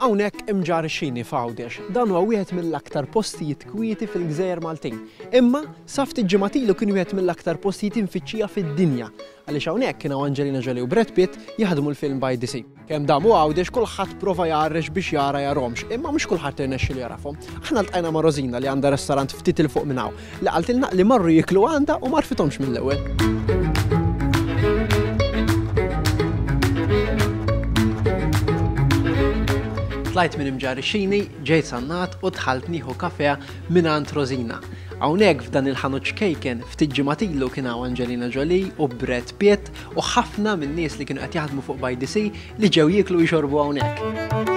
Hawnhekk imġarr ix-xini f'Għawdex. Dan huwa wieħed mill-aktar postijiet kwieti fil-gżejjer Maltin. Imma sa ftit ġimgħat ilu kien wieħed mill-aktar postijiet imfittxija fid-dinja għaliex hawnhekk kien hawn Angelina Jolie u Brad Pitt jaħdmu l-film By the Sea. Kemm dam u Għawdex kulħadd prova jgħarrex biex jara jarhomx, imma mhux kulħadd irnexxilu jarafhom. Aħna ltqajna ma' Rosina li għandha restaurant ftit il fuq minn hawn li qaltilna li marru jiklu għandha u marfithomx mill-ewwel. tlajt minn imġarixini, ġejt sannat u tħalt nieħu kafea minn għand Rosina. Hawnhekk f'dan il-ħanut xkejken ftit ġimatilu kien hawn Angelina Jolie u Brad Pitt u ħafna min-nies li kienu qed jaħdmu fuq by the sea li ġew jieklu jxorbu hawnhekk.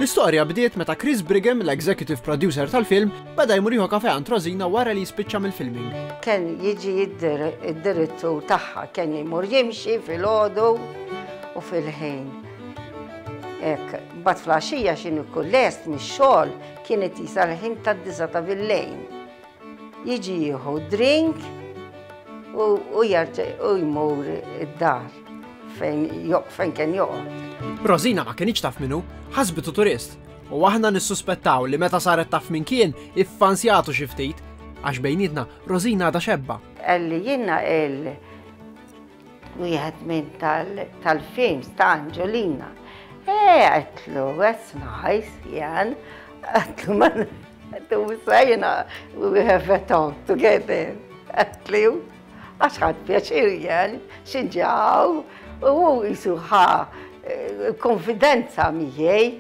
L-istorja bdiet meta Chris Brigham, l-executive producer tal-film, beda jmur jieħu kafe għand Rosina wara li jispiċċa mill-filming. Ken jiġi id-direttur tagħha, ken jmur jimxi fil-ħodu u fil-ħin. Ek, bat flaxija xin ikun lest mix-xogħol kienet jisa l-ħin tad-disa ta' bil-lejn. Jiġi jieħu drink u jarġa' u jmur id-dar fejn fejn kien joqgħod. Rosina ma kienx taf minnu, ħasbitu turist u aħna nissuspettaw li meta saret taf minn kien iffansjatu xi ftit għax bejnietna Rosina għadha xebba. Għalli jiena il Wieħed minn tal-films ta' Anġolina. Eh, għetlu, that's nice, Jan. Għetlu, ma għetlu, wissa jena, we have a talk together. Għetlu, għax ħad pjaċir Jan, xinġaw, u jisu ħa eh, konfidenza miħej.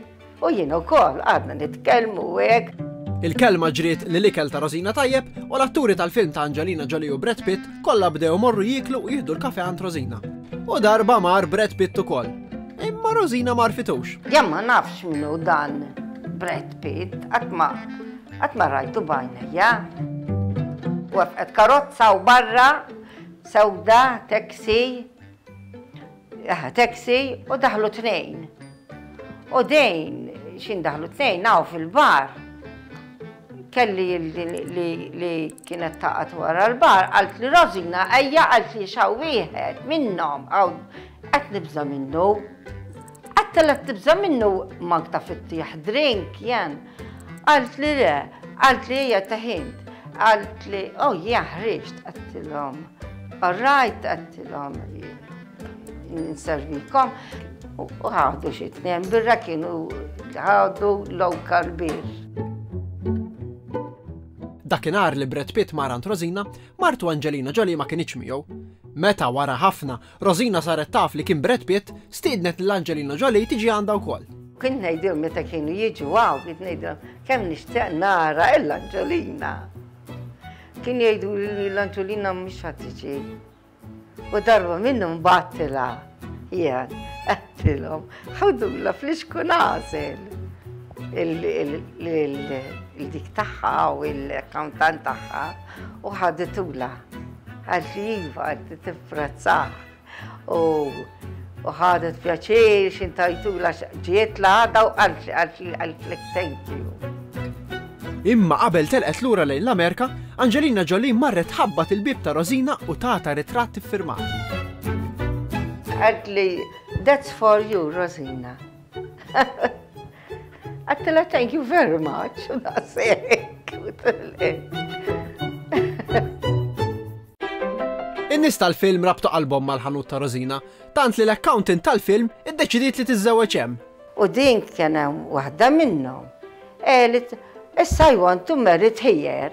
U jien ukoll għadna nitkellmu hekk. Il-kelma ġriet li l-ikel ta' Rosina tajjeb u l-atturi tal-film ta' Angelina Jolie u Brad Pitt kollha bdew morru jieklu u jieħdu l-kafe għand Rosina. U darba mar Brad Pitt ukoll. Imma Rosina mar fitux. Jan ma nafx minnu dan Brad Pitt, għatma għatma rajtu bajna, ja? Wafqet karozza u barra, sewda, taxi, Aha, taxi u daħlu tnejn. U dejn, xin daħlu tnejn, naw fil-bar. Kelli li kienet taqat wara l-bar, għalt li Rosina, ejja għalt li xaw wieħed minnom, għaw, għat nibza minnu. Għat telet tibza minnu magta fit-tieħ drink, jen. Qaltli le, qaltli hija teħint, qaltli oh yeah ħriġt, għedtilhom all right, għedtilhom nservikom u ħadu xi tnejn birra kienu ħadu local beer. Dakinhar li Brad Pitt mar għand Rosina, martu Angelina Jolie ma kinitx miegħu. Meta wara ħafna Rosina saret taf li kien Brad Pitt, stiednet lil Angelina Jolie tiġi għandha wkoll. Kint ngħidilhom meta kienu jiġu hawn, kint ngħidilhom kemm nixtieq nara lil Angelina. Kienu jgħiduli li l-Angelina mhix ħadd tiġi. U darba minnhom bgħattilha jien għedtilhom ħudula fl-ixku nażel il-dik tagħha u l-accountant tagħha. U ħaditula, għalt li jiva, għalt li tifrazzah. U ħadet pjaċir, xintajtula ġiet la għada u għalt li għalt li għalt li thank you. Imma qabel telqet lura lejn l-Amerika, Angelina Jolie marret ħabbat il-bib ta' Rosina u tata ritratt iffirmat. Għadli, that's for you, Rosina. Għattila thank you very much. In-nies tal-film rabtu qalbhom mal-ħanut ta' Rosina, tant li l-accountant tal-film iddeċidiet li tiżżewweġ hemm. U din kien hemm waħda minnhom. Elit, issa I want to marry here.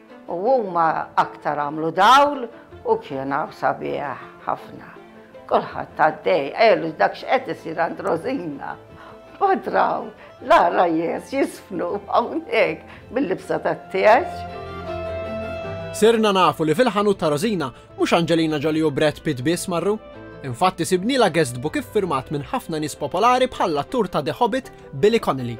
U huma aktar għamlu dawl u kien hawn sabiħ ħafna. Kulħadd għaddej, qelu dak x'qed isir għand Rosina. Mbagħad raw l-għarajjes jisfnu hawnhekk bil-libsa tat-tieġ. Sirna nafu li fil-ħanut ta' Rosina Mhux Angelina Jolie u Brad Pitt biss marru. Infatti sibniela guestbook iffirmat minn ħafna nies popolari bħall-attur ta' The Hobbit Billy Connolly.